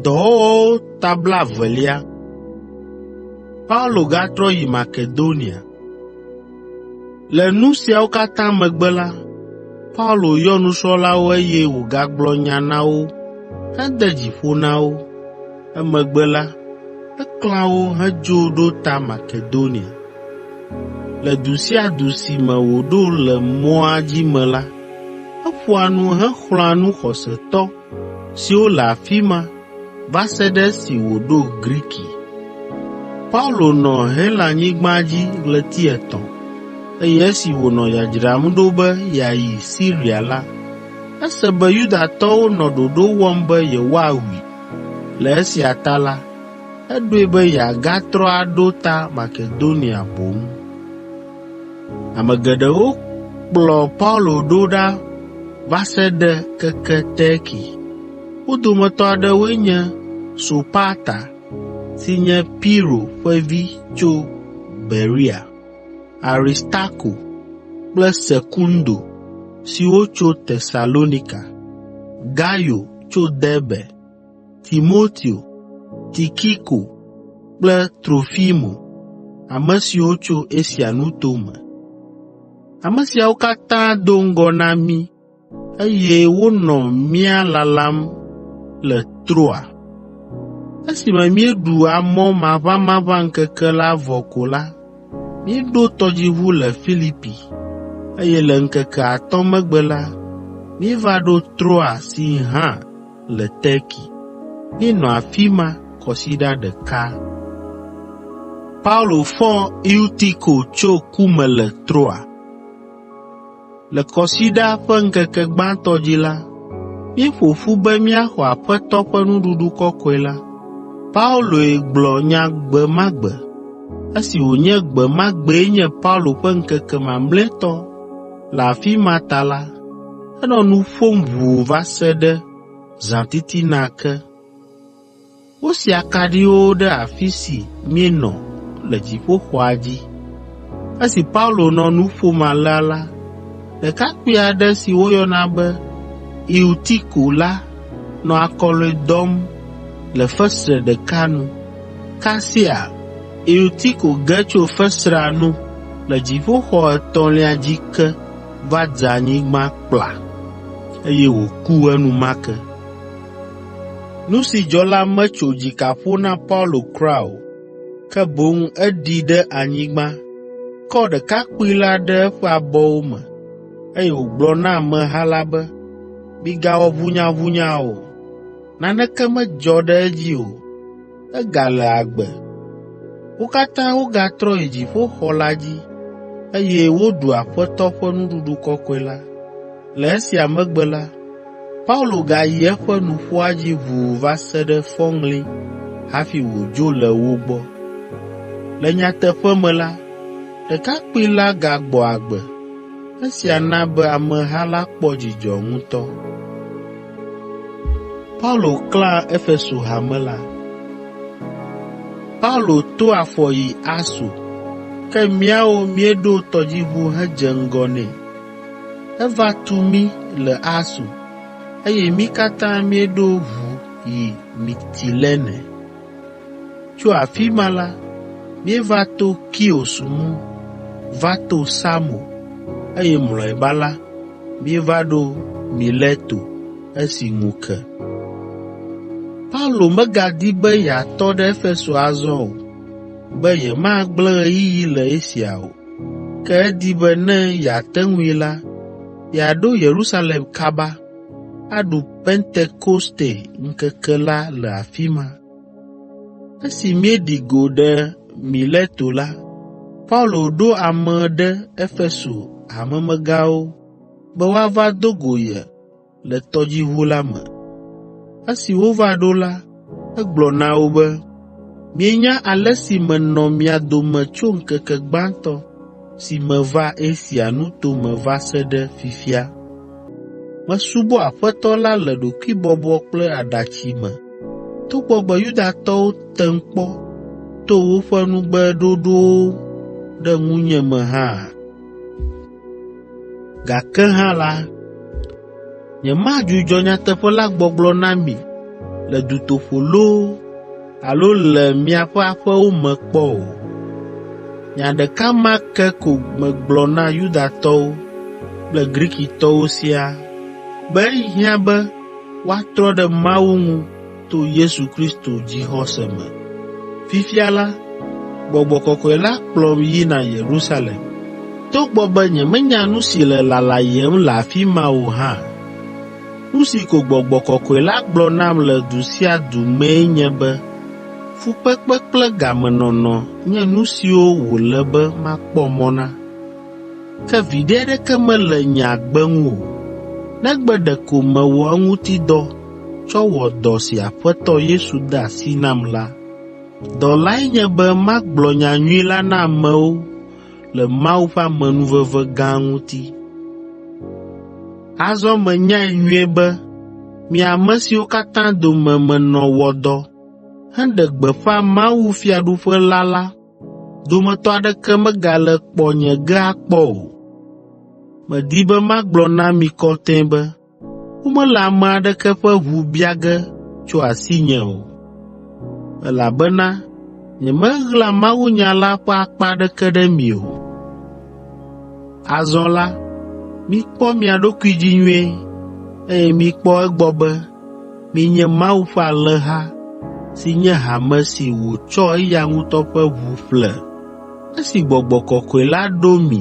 Dɔwɔwɔwo ta blaevelia. Paulo gatrɔ yi Makedonia. Le nu siawo katã megbe la, Paulo yɔ nusrɔ̃lawo eye wògagblɔ nya na wo hede dzi ƒo na wo. Emegbe la, eklã wo hedzo ɖo ta Makedonia. Le du sia du si me wòɖo le mɔa dzi me la, eƒoa nu hexlɔ̃a nu xɔsetɔ siwo le afi ma va se ɖe esi wòɖo Griki. Paulo nɔ Helanyigba dzi ɣleti etɔ̃, eye esi wònɔ dzadzram ɖo be yeayi Siria la, ese be Yudatɔwo nɔ ɖoɖo wɔm be yewoawui. Le esia ta la, eɖoe be yeagatrɔ aɖo ta Makedonia boŋ. Ame geɖewo kplɔ Paulo ɖo ɖa va se ɖe keke Terki. Wo dometɔ aɖewoe nye Sopata si nye Piro ƒe vi tso Berea, Aristarko kple Sekundo siwo tso Tesalonika, Gayo tso Derbe, Timoteo, Tikiko kple Trofimo, ame siwo tso Asia nuto me. Ame siawo katã do ŋgɔ na mí, eye wonɔ mía lalam le Troa. Esime míeɖu amɔ maʋamaʋã ŋkeke la vɔ ko la, Míeɖo tɔdziʋu le Filipi, eye le ŋkeke atɔ̃ megbe la, míeva ɖo Troa si hã le Terki. Míenɔ afi ma kɔsiɖa ɖeka. Paulo fɔ Eutiko tso ku me le Troa Le Kɔsiɖa ƒe ŋkeke gbãtɔ dzi la, míeƒo ƒu be míaxɔ Aƒetɔ ƒe Nuɖuɖu Kɔkɔe la. Pauloe gblɔ nya gbe ma gbe. Esi wònye gbe ma gbee nye Paulo ƒe ŋkeke mamlɛtɔ le afi ma ta la, enɔ nu ƒom ʋuu va se ɖe zãtitina ke. Wosia akaɖiwo ɖe afi si míenɔ le dziƒoxɔa dzi. Esi Paulo nɔ nu ƒom alea la, ɖekakpui aɖe si woyɔna be Eutiko la nɔ akɔlɔ̃e dɔm le fesre ɖeka nu. Kasia Eutiko ge tso fesrea nu le dziƒoxɔ etɔ̃lia dzi ke va dze anyigba kpla, eye wòku enumake. Nu si dzɔ la metso dzika ƒo na Paulo kura o, ke boŋ eɖi ɖe anyigba, kɔ ɖekakpui la ɖe eƒe abɔwo me, eye wògblɔ na ameha la be, “Migawɔ ʋunyaʋunya o, naneke medzɔ ɖe edzi o.” egale agbe. Wo katã wogatrɔ yi dziƒoxɔ la dzi, eye woɖu Aƒetɔ ƒe Nuɖuɖu Kɔkɔe la. Le esia megbe la, Paulo gayi eƒe nuƒoa dzi ʋuu va se ɖe fɔŋli hafi wòdzo le wo gbɔ. Le nyateƒe me la, ɖekakpui la gagbɔ agbe. Esia na be ameha la kpɔ dzidzɔ ŋutɔ. Paulo klã Efeso hame la. Paulo to afɔ yi Aso, ke míawo míeɖo tɔdziʋu hedze ŋgɔ nɛ. Eva tu mí le Aso, eye mí katã míeɖo ʋu yi Mitilene. Tso afi ma la, míeva to Kios ŋu va to Samo, eye mlɔeba la, míeva ɖo Mileto esi ŋu ke. Paulo megadi be yeatɔ ɖe Efeso azɔ o, be yemagblẽ ɣeyiɣi le Asia o, ke edi be ne yeate ŋui la, yeaɖo Yerusalem kaba, aɖu Pentekoste ŋkeke la le afi ma. Esi míeɖi go ɖe Mileto la, Paulo ɖo ame ɖe Efeso hamemegãwo be woava do go ye le tɔdziʋu la me. Esi wova ɖo la, egblɔ na wo be, “Mienya ale si menɔ mia dome tso ŋkeke gbãtɔ si meva Asia nuto me va se ɖe fifia. Mesubɔ Aƒetɔ la le ɖokuibɔbɔ kple aɖatsi me, togbɔ be Yudatɔwo tem kpɔ to woƒe nugbeɖoɖowo ɖe ŋunye me hã. Gake hã la, Nyemadzudzɔ nyateƒe la gbɔgblɔ na mi le dutoƒo loo alo le miaƒe aƒewo me kpɔ o. Nya ɖeka ma ke ko megblɔ na Yudatɔwo kple Grikitɔwo siaa be ehiã be woatrɔ ɖe Mawu ŋu to Yesu Kristo dzixɔse me. Fifia la, Gbɔgbɔ Kɔkɔe la kplɔm yina Yerusalem. Togbɔ be nyemenya nu si le lalayem le afi ma o hã, nu si ko Gbɔgbɔ Kɔkɔe la gblɔ nam le du sia du mee nye be fukpekpe kple gamenɔnɔ nye nu siwo wòle be makpɔ mɔ na. Ke viɖe aɖeke mele nye agbe ŋu o, negbe ɖeko mewɔ eŋuti dɔ tsɔ wɔ dɔ si Aƒetɔ Yesu de asi nam la. Dɔ lae nye be magblɔ nyanyui la na amewo le Mawu ƒe amenuveve gã ŋuti. Azɔ menyae nyuie be mi ame siwo katã dome menɔ wɔ dɔ heɖe gbeƒã mawufiaɖuƒe la la dometɔ aɖeke megale kpɔ nye gea kpɔ o. Medi be magblɔ na mi kɔtɛe be womele ame aɖeke ƒe ʋu bia ge tso asinye o, elabena nyemeɣla mawunya la ƒe akpa aɖeke ɖe mi o. Azɔ la, mikpɔ mia ɖokui dzi nyuie, eye mikpɔ egbɔ be Mienye Mawu ƒe alẽha si nye hame si wòtsɔ eya ŋutɔ ƒe ʋu ƒle. Esi Gbɔgbɔ Kɔkɔe la ɖo mi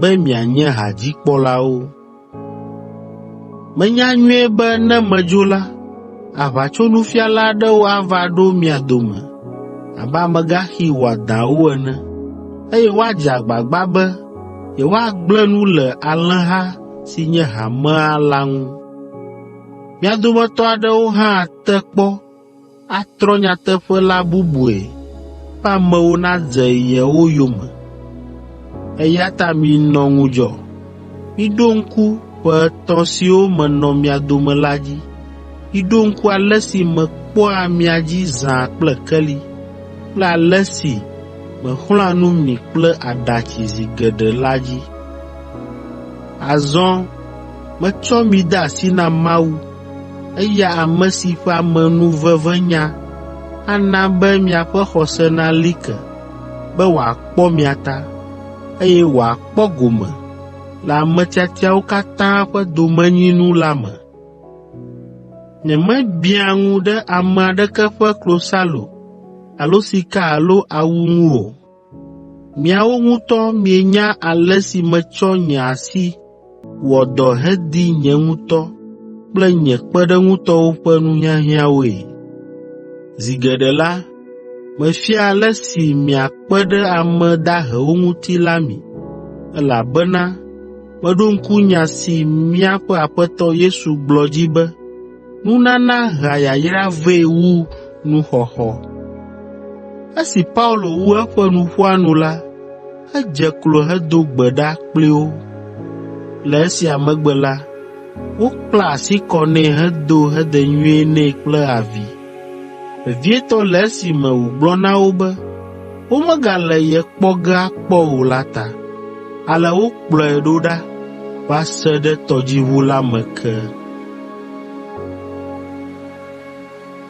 be mianye hadzikpɔlawo. Menya nyuie be ne medzo la, aʋatsonufiala aɖewo ava ɖo mia dome abe amegaxi wɔadãwo ene, eye woadze agbagba be yewoagblẽ nu le alẽha si nye hamea la ŋu. Mía dometɔ aɖewo hã ate kpɔ atrɔ nyateƒe la bubue be amewo nadze yewo yome. Eya ta minɔ ŋudzɔ. Miɖo ŋku ƒe etɔ̃ siwo menɔ mia dome la dzi. Miɖo ŋku ale si mekpɔa mia dzi zã kple keli kple ale si mexlɔ̃a nu mi kple aɖatsi zi geɖe la dzi. Azɔ Metsɔ mi de asi na Mawu, eya ame si ƒe amenuvevenya ana be miaƒe xɔse nali ke, be wòakpɔ mia ta, eye wòakpɔ gome le ame tiatiawo katã ƒe domenyinu la me. Nyemebiã ŋu ɖe ame aɖeke ƒe klosalo alo sika alo awu ŋu o. Miawo ŋutɔ mienya ale si metsɔ nye asi wɔ dɔ hedi nye ŋutɔ kple nye kpeɖeŋutɔwo ƒe nuhiahiãwoe. Zi geɖe la, mefia ale si miakpe ɖe ame dahewo ŋuti la mi, elabena meɖo ŋku nya si míaƒe Aƒetɔ Yesu gblɔ dzi be, Nunana hea yayra vɛ wu nuxɔxɔ. Esi Paulo wu eƒe nuƒoa nu la, edze klo hedo gbe ɖa kpli wo. Le esia megbe la, wokpla asi kɔ nɛ hedo hedenyuie nɛ kple avi, vevietɔ le esime wògblɔ na wo be, womegale ye kpɔ ge akpɔ o la ta. Ale wokplɔe ɖo ɖa va se ɖe tɔdziʋu la me ke.